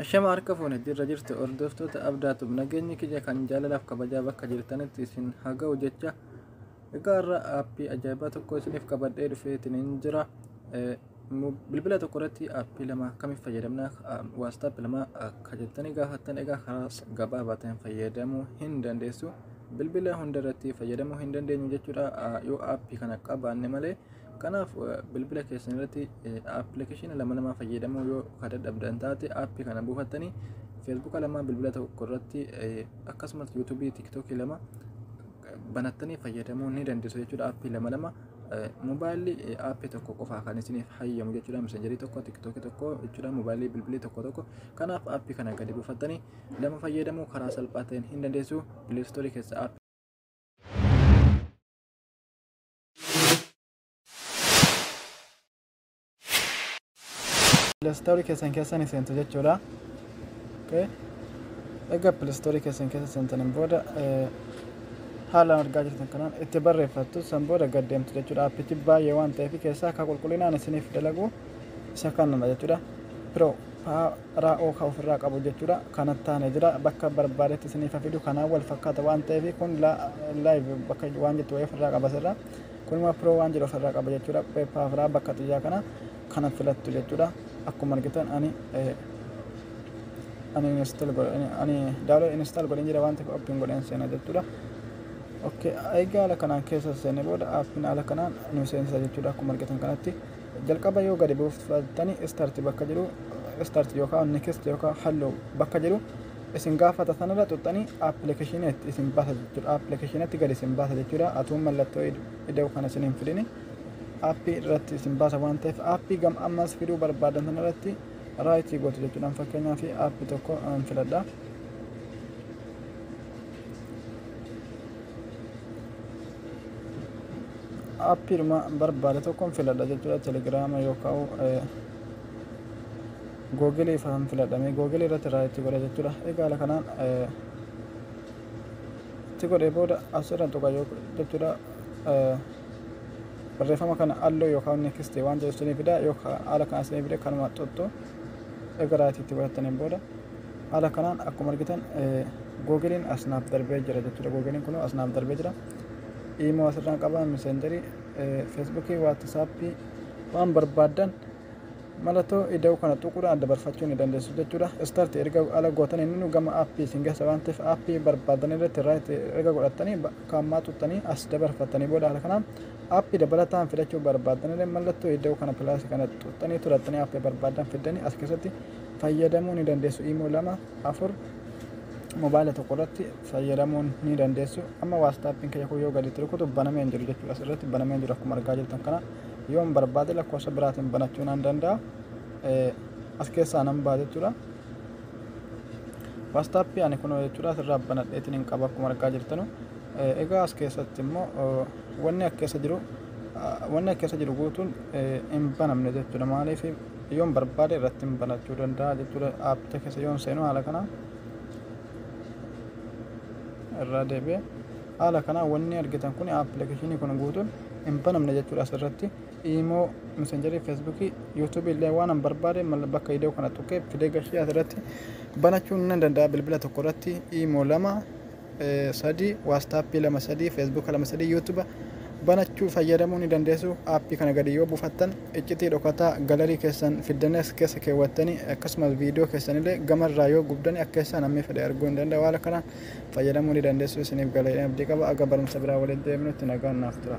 Ashama harka fuune jirra jirtu hordoftoota abdaatub nageenyi kiyya kan jaalalaaf kabajaa bakka jirtanitti isin haa ga'u jecha egaa irra aappii ajaa'ibaa tokko isiniif qabadhee dhufeetiin hin jira bilbila tokko irratti aappii lama akkamiin fayyadamna waastaap lama akka jettanii gaafattan egaa karaa gabaabaa ta'een fayyadamuu hin dandeessu bilbila hunda irratti fayyadamuu hin dandeenyu jechuudha yoo aappii kana qabaanne malee Kanaaf bilbila keessan irratti appilikeeshina lama lama fayyadamuu yoo ka dadhabdan taate appii kana buufattanii feesbuuka lama bilbila tokko irratti akkasumas yuutuubii tiktookii lama banattanii fayyadamuu ni dandeessu jechuudha appii lama lama mobaayilli appii tokko qofaa kan isiniif hayyamu jechuudha messengerii tokko tiktookii tokko jechuudha mobaayilli bilbilii tokko tokko kanaaf appii kana gadi buufattanii lama fayyadamuu karaa salphaa ta'een hin dandeessu pileestoorii keessa appii pilaastoorii keessan keessa ni seentu jechuudha. Okay. Egaa pilaastoorii keessan keessa seentaniin booda eh, haalaan argaa jirtan kanaan itti barreeffattu san booda gad deemtu jechuudha. Appichi baay'ee waan ta'eef keessaa akka qulqullinaan isiniif dalagu isa kanuma jechuudha. Pro ra o ka ofirraa qabu jechudha kanattaane jira bakka barbaadetti isiniif ha fidu kanaan wal fakkaata waan ta'eef kun la live bakka waan jettu wayii ofirraa qaba sirra kun immoo pro waan jedhu ofirraa qaba jechudha peppa firaa bakka xiyyaa kana kana filattu jechudha akkuma argitan ani ani install godhe ani download install godhe jira waan ta'eef open godheen seena jechudha ok egaa ala kanaan keessa seenne booda appiin ala kanaan nu seensa jechuudha akkuma argitan kanatti jalqaba yoo gadi buufatani start bakka jedhu start yookaan next yookaan hello bakka jedhu isin gaafata sanarra xuxxanii appilikeeshinii itti isin baasa jechuudha appilikeeshiniitti gadi isin baasa jechuudha atuun mallattoo ida'u kana isin hin fidini appii irratti isin baasa waan ta'eef appii gam ammas fiduu barbaadan sanarratti raayitii gootu jechuudha fakkeenyaaf appii tokko an filadha. appiidhuma barbaade tokkon filadha jechuudha telegiraama yookaan googilii fa'aan filadhame googilii irratti irraa itti godha jechuudha egaa haala kanaan itti godhee booda asirra tuqa jechuudha barreeffama kana halluu yookaan neekistii waan jedhu isinii fida yookaan haala kana isinii fide kanuma tuttu egaa irraa itti godhataniin booda Haala kanaan akkuma argitan googiliin as naaf darbee jira jechuudha. Googiliin kun as naaf darbee jira. Iimoo asirraan qaba, miseenjarii, feesbuukii, waatisaappii waan barbaaddan mallattoo ida'uu kana tuquudhaan adda barfachuu ni dandeessu jechuudha. Istaarti erga ala gootan inni gama aappii isin geessa waan ta'eef aappii barbaadan irratti irraa itti erga godhattanii bakka ammaa tuttanii as dabarfattanii booda haala kanaan aappii dabalataan fidachuu barbaadan illee mallattoo ida'uu kana pilaasii kana tuttanii turattanii aappii barbaadan fiddanii as keessatti fayyadamuu ni dandeessu imoo lama afur mobaayila tokko irratti fayyadamuu ni dandeessu amma waastaappiin kiyya kun yoo gadi itti rukutu banamee hin jiru jechuudha asirratti banamee hin jiru akkuma argaa jirtan kana yoon barbaade lakkoofsa biraatiin banachuu nan danda'a as keessaa nan ba'a jechuudha waastaappi ani kunoo jechuudha asirraa banadheetiin hin qaba akkuma argaa jirtanu egaa as keessatti immoo wanni as keessa jiru wanni as keessa jiru guutuun hin banamne jechuudha maaliif yoon barbaade irratti banachuu danda'a jechuudha aappicha keessa yoon seenu haala kana irraa deebi'e haala kana wanni argitan kun appilikeeshinii kun guutuun hin banamne jechuudha asirratti imoo messengerii feesbuukii yuutuubii illee waan hin barbaade bakka idoo kana tuqee fidee gashee asirratti banachuun nan danda'a bilbila tokko irratti imoo lama 3 waastaappii 2 3 feesbuuka 2 3 yuutuba banachuu fayyadamuu ni dandeessu aappii kana gadi yoo bufattan iccitii dhokataa galarii keessan fiddanees keessa keewwattanii akkasumas viidiyoo keessanillee gamarraa yoo gubdani akka keessaa namni fedhe arguu hin danda'u haala kanaan fayyadamuu ni dandeessu isiniif galeedhaan abdii qaba aga barumsa biraa walitti deebinutti nagaan naaf tura.